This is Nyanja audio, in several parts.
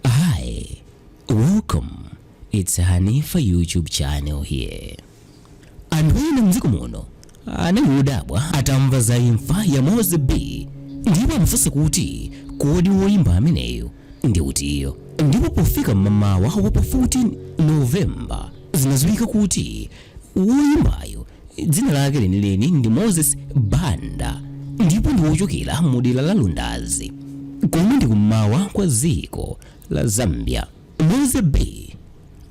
Hi, welcome. It's Hanifa YouTube channel here. Anthu ena mdziko muno anali odabwa atamva za imfa ya Moze B ndipo amafunsa kuti kodi woyimba ameneyo ndi utiyo ndipo pofika mmamawa wa pa 14 November zinadziwika kuti Woyimbayo dzina lake lenileni ndi Moses Banda ndipo ndi wochokera mu dera la Lundazi komwe ndi kum'mawa kwa dziko la Zambia. Moze B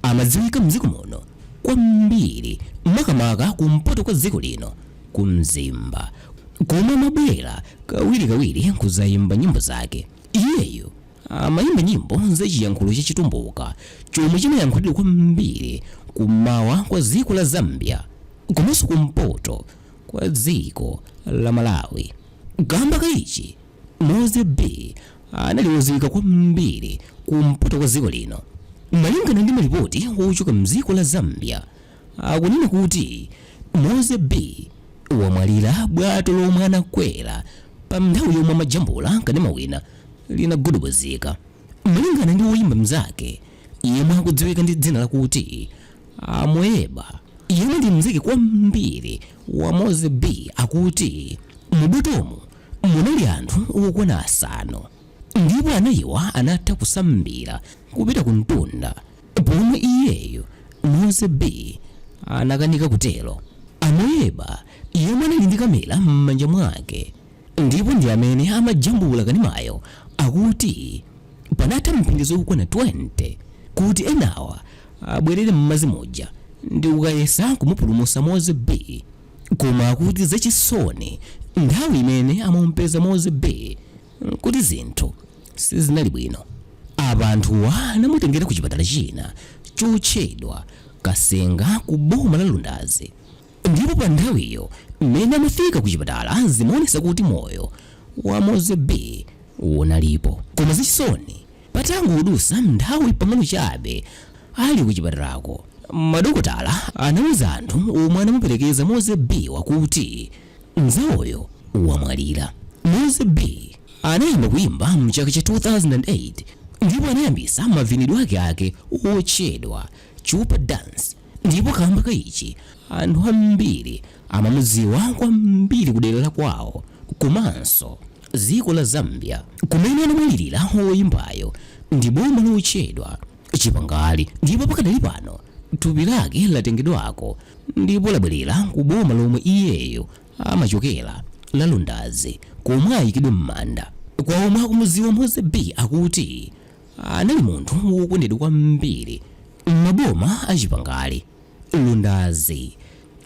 amadziwika mdziko muno kwambiri makamaka kumpoto kwa dziko lino ku Mzimba komwe amabwera kawirikawiri kudzayimba nyimbo zake. Iyeyo Amaimba nyimbo za chiyankhulo cha Chitumbuka chomwe chimayankhulidwa kwambiri kummawa kwa dziko la Zambia komanso kumpoto kwa dziko la Malawi. Kamba ka ichi, Moze B anali wodziwika kwambiri kumpoto kwa dziko lino. Malingana ndi malipoti wochoka mdziko la Zambia, Akunena kuti Moze B wamwalira bwato lomwe anakwera pa nthawi yomwe amajambula kanema wina linagudubuzika. Malingana ndi woyimba mnzake yemwe akudziwika ndi dzina lakuti Amuyeba yemwe ndi mnzake kwambiri wa Moze B akuti mu botimo munali anthu okwana asanu. ndipo anayiwa anatha kusambira kupita ku mtunda pomwe iyeyo Moze B anakanika kutero. Amuyeba yemwe anali ndi kamera m'manja mwake ndipo ndi amene amajambula kanemayo akuti panatha mphindi zokwana 20 kuti enawa abwerere m'madzi muja ndi kukayesa kumupulumutsa Moze B koma akuti zachisoni nthawi imene amamupeza Moze B Nkuti zinthu sizinali bwino apa anthuwa anamutengera ku chipatala china chotchedwa Kasenga ku boma la Lundazi ndipo pa nthawiyo mmene amafika ku chipatala zimaonesa kuti moyo wa Moze B unalipo koma zachisoni patangodusa nthawi pang'ono chabe ali ku chipatalako madokotala anauza anthu omwe anamuperekeza Moze B-wa kuti Mnzawoyo wamwalira. Moze B anayamba kuyimba mchaka cha 2008 ndipo anayambisa mavinidwe ake ake otchedwa Chupa Dance ndipo kamba ka ichi anthu ambiri amamudziwa kwambiri kudera la kwawo komanso dziko la Zambia kumene anamwalirira woyimbayo ndi boma lotchedwa chipangali ndipo pakadali pano thupi lake latengedwako ndipo labwerera ku boma lomwe iyeyo amachokera la lundazi komwe ayikidwe m'manda kwa omwe akumuziwa mozy b akuti anali munthu wokondedwa kwambiri m'maboma a chipangali lundazi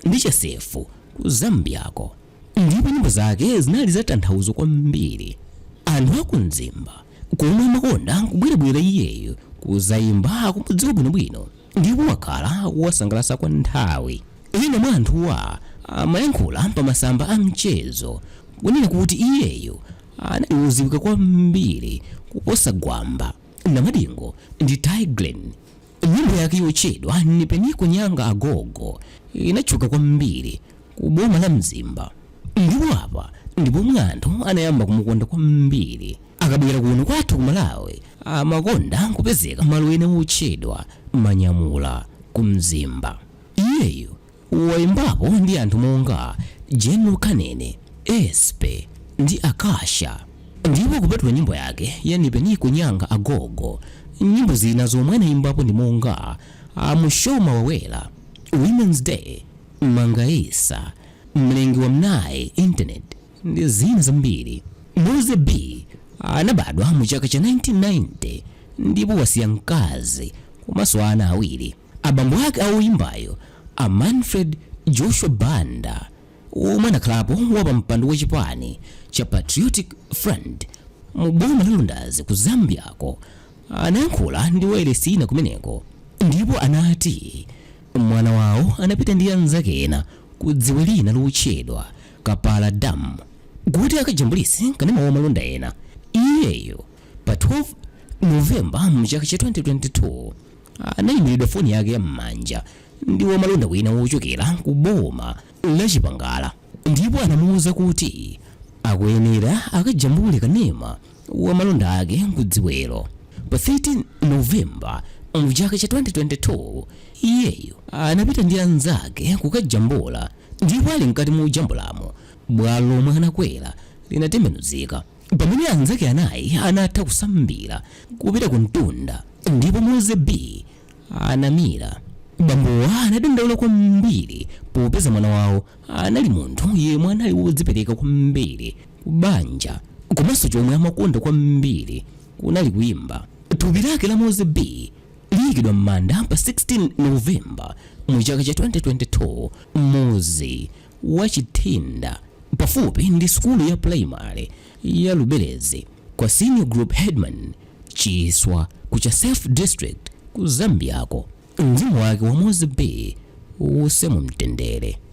ndi chasefu ku zambiako ndipo nyimbo zake zinali zatanthauzo kwambiri. Anthu a ku Mzimba komwe amakonda kubwerabwera iyeyo kuzaimba akumudziwa bwinobwino ndipo wakhala akuwasangalasa kwa nthawi. Ena mwa anthuwa amayankhula pa masamba a mchezo kunena kuti iyeyo anali woziwika kwambiri kuposa Gwamba, Namadingo ndi Tay Grin Nyimbo yake yotchedwa Nipeniko Nyanga Agogo inatchuka kwambiri ku boma la Mzimba ndipo apa ndi pomwe anthu anayamba kumukonda kwambiri. Akabwera kuno kwathu ku Malawi amakonda kupezeka malo ena otchedwa Manyamula ku Mzimba. Iyeyo Waimbapo ndi anthu monga General Kanene, Espe ndi Akasha ndipo kupatula nyimbo yake ya Nipeniko Nyanga Agogo, nyimbo zina zomwe anaimbapo ndi monga Mushoma Wawela, Women's Day, Mangaisa, Mlengi wa m'nayi, Internet ndi zina zambiri. Mozy B anabadwa mu chaka cha 1990 ndipo wasiya mkazi komanso ana awiri. Abambo ake a oyimbayo, a Manfred Joshua Banda, womwe anakhalapo wapampando wa chipani cha Patriotic Front mu boma la Lundazi ku Zambia-ko, anayankhula ndi wailesi ina kumeneko ndipo anati mwana wawo anapita ndi anzake ena ku dziwe lina lotchedwa Kapala Dam kuti akajambulise kanema wa malonda ena. Iyeyo pa 12 November mchaka cha 2022. anayimbiridwa foni yake ya m'manja ndi wamalonda wina wochokera ku boma la Chipangala ndipo anamuwuza kuti akuyenera akajambule kanema wa malonda ake kudziwelo. Pa 13 Novemba mu chaka cha 2022 iyeyo anapita ndi anzake kukajambula ndipo ali mkati mojambulamo bwato lomwe anakwera linatembenuzika. Pamene anzake anayi anatha kusambira kupita kumtunda ndipo Mozy B anamira, bambowa anadandaula kwambiri popeza mwana wawo anali munthu yemwe anali wodzipereka kwambiri ku banja komanso chomwe amakonda kwambiri kunali kuimba. Thupi lake la Mozy B liyikidwa m'manda pa 16 November mu chaka cha 2022. Mozy. wa Chithinda pafupi ndi sukulu ya primary ya Lubelezi kwa Senior Group Headman Chiswa ku Chasefu District ku Zambiako. Mzimu wake wa Mose B uuse mu mtendere.